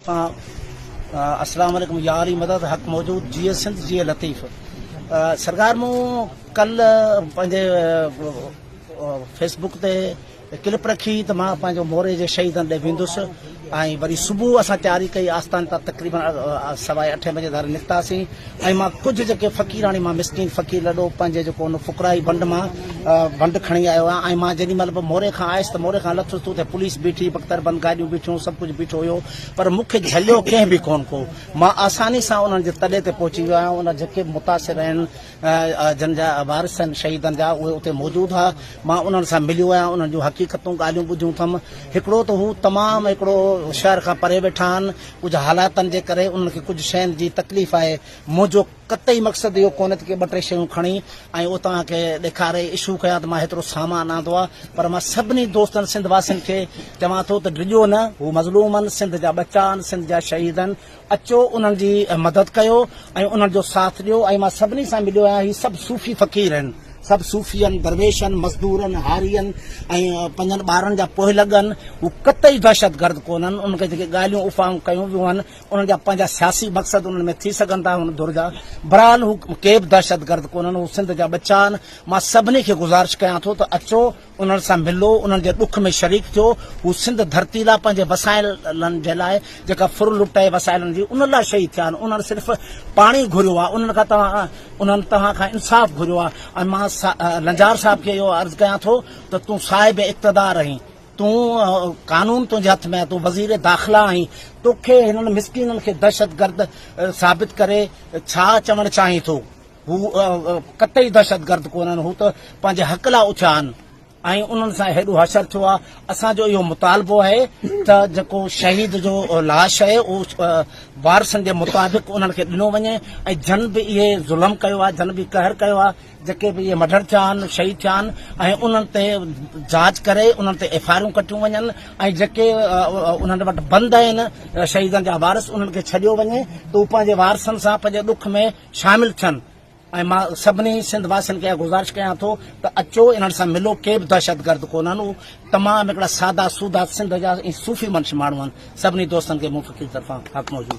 طرفان اسلام عليڪم ياري مدد حق موجود جيئي سنڌ جيئي لطيف سرڪار مون ڪل پنهنجي فيسبوڪ تي کلپ رکي ته مان پنهنجو موري جي شهيدن ڏي ويندس ۽ وري صبح اسان تياري ڪئي آستان تان تقريبن سوائي اٺين بجي ڌاري نڪتاسين ۽ مان ڪجهه جيڪي فقيراڻي مان مسڪين فقير لڏو پنهنجي جيڪو ان فقرائي بنڊ مان بنڊ کڻي آيو آهيان ۽ مان جيڏي مهل به موري کان آيس ته موري کان لٿس ته اتي پوليس بيٺي بڪتر بند گاڏيون بيٺيون سڀ ڪجهه بيٺو هيو پر مون کي جهليو ڪنهن به ڪون ڪو مان آساني سان انهن جي تڏي تي پهچي ويو آهيان ان جيڪي متاثر آهن جن جا وارث آهن شهيدن جا اهي اتي موجود ها مان انهن سان مليو آهيان انهن جون حقيقتون ڳالهيون ٻڌيون اٿم هڪڙو ته هو تمام هڪڙو شهر کان پري ويٺا آهن ڪجهه حالاتن جي ڪري انهن کي ڪجهه شين جي تڪليف آهي منهنجو قطعي مقصد اهو ڪونهي ته ڪي ٻه ٽي شيون کڻي ۽ اوتان کي ڏيکاري اشو ڪيان ته مان هيترو سامان آندو آهي پر مان سڀني دوستن سنڌ واسين کي چوان ٿو ته ڊڄو نه هو مظلوم آهن سنڌ جا ٻچا آهن سنڌ جا شهيد آهن اچو انهن جي مدد ڪيو ۽ انهن جو ساٿ ڏيو ۽ مان سڀني سان مليو آهيان هي سڀ صوفي فقير آهن سڀ صوفين، درويشن، مزدورن، هارين ۽ پنهنجن ٻارن جا پوئلڳن، هو قطعي دهشتگرد ڪونهن، انهن کي جيڪي ڳالهيون افواهون ڪيون ويون آهن، انهن جا پنهنجا سياسي مقصد انهن ۾ ٿي سگهن ٿا هن ڌر جا، برحال هو ڪيبه دهشتگرد ڪونهن، هو سنڌ جا ٻچا آهن، مان سڀني کي گذارش ڪيان ٿو ته اچو، انهن سان ملو، انهن جي ڏک ۾ شريڪ ٿيو، هو سنڌ ڌرتي لاء پنهنجي وسائلن جي لاء جيڪا ڦر لٽي وسائلن جي ان لاء شهيد ٿيا آهن، انهن صرف پاڻي گهريو آهي، انهن کان توهان انهن توهان کان انصاف گهريو آهي ۽ مان لنجار صاحب کي اهو عرض ڪيان ٿو ته تون صاحب اقتدار آهين، تون قانون تنهنجي هٿ ۾ آهي، تون وزير داخلا آهين، توکي هنن مسڪينن کي دهشتگرد ثابت ڪري ڇا چوڻ چاهين ٿو؟ هو قطعي دهشتگرد ڪونهن، هو ته پنهنجي حق لاء اٿيا آهن ۽ انهن سان هيڏو حشر ٿيو آهي، اسان جو اهو مطالبو آهي ته جيڪو شهيد جو لاش آهي اهو وارثن جي مطابق انهن کي ڏنو وڃي ۽ جن به اهي ظلم ڪيو آهي، جن به قهر ڪيو آهي، جيڪي به اهي مڊر ٿيا آهن، شهيد ٿيا آهن ۽ انهن تي جاچ ڪري انهن تي ايف آء آرون ڪٽيون وڃن ۽ جيڪي انهن وٽ بند آهن شهيدن جا وارث انهن کي ڇڏيو وڃي ته هو پنهنجي وارثن سان پنهنجي ڏک ۾ شامل ٿين ۽ مان سڀني سنڌ واسين کي اها گذارش ڪيان ٿو ته اچو انهن سان ملو ڪي به دهشتگرد ڪونهن اهو تمام هڪڙا سادا سودا سنڌ جا ۽ صوفي منش ماڻهو آهن سڀني دوستن کي مون فقير طرفان حق موجود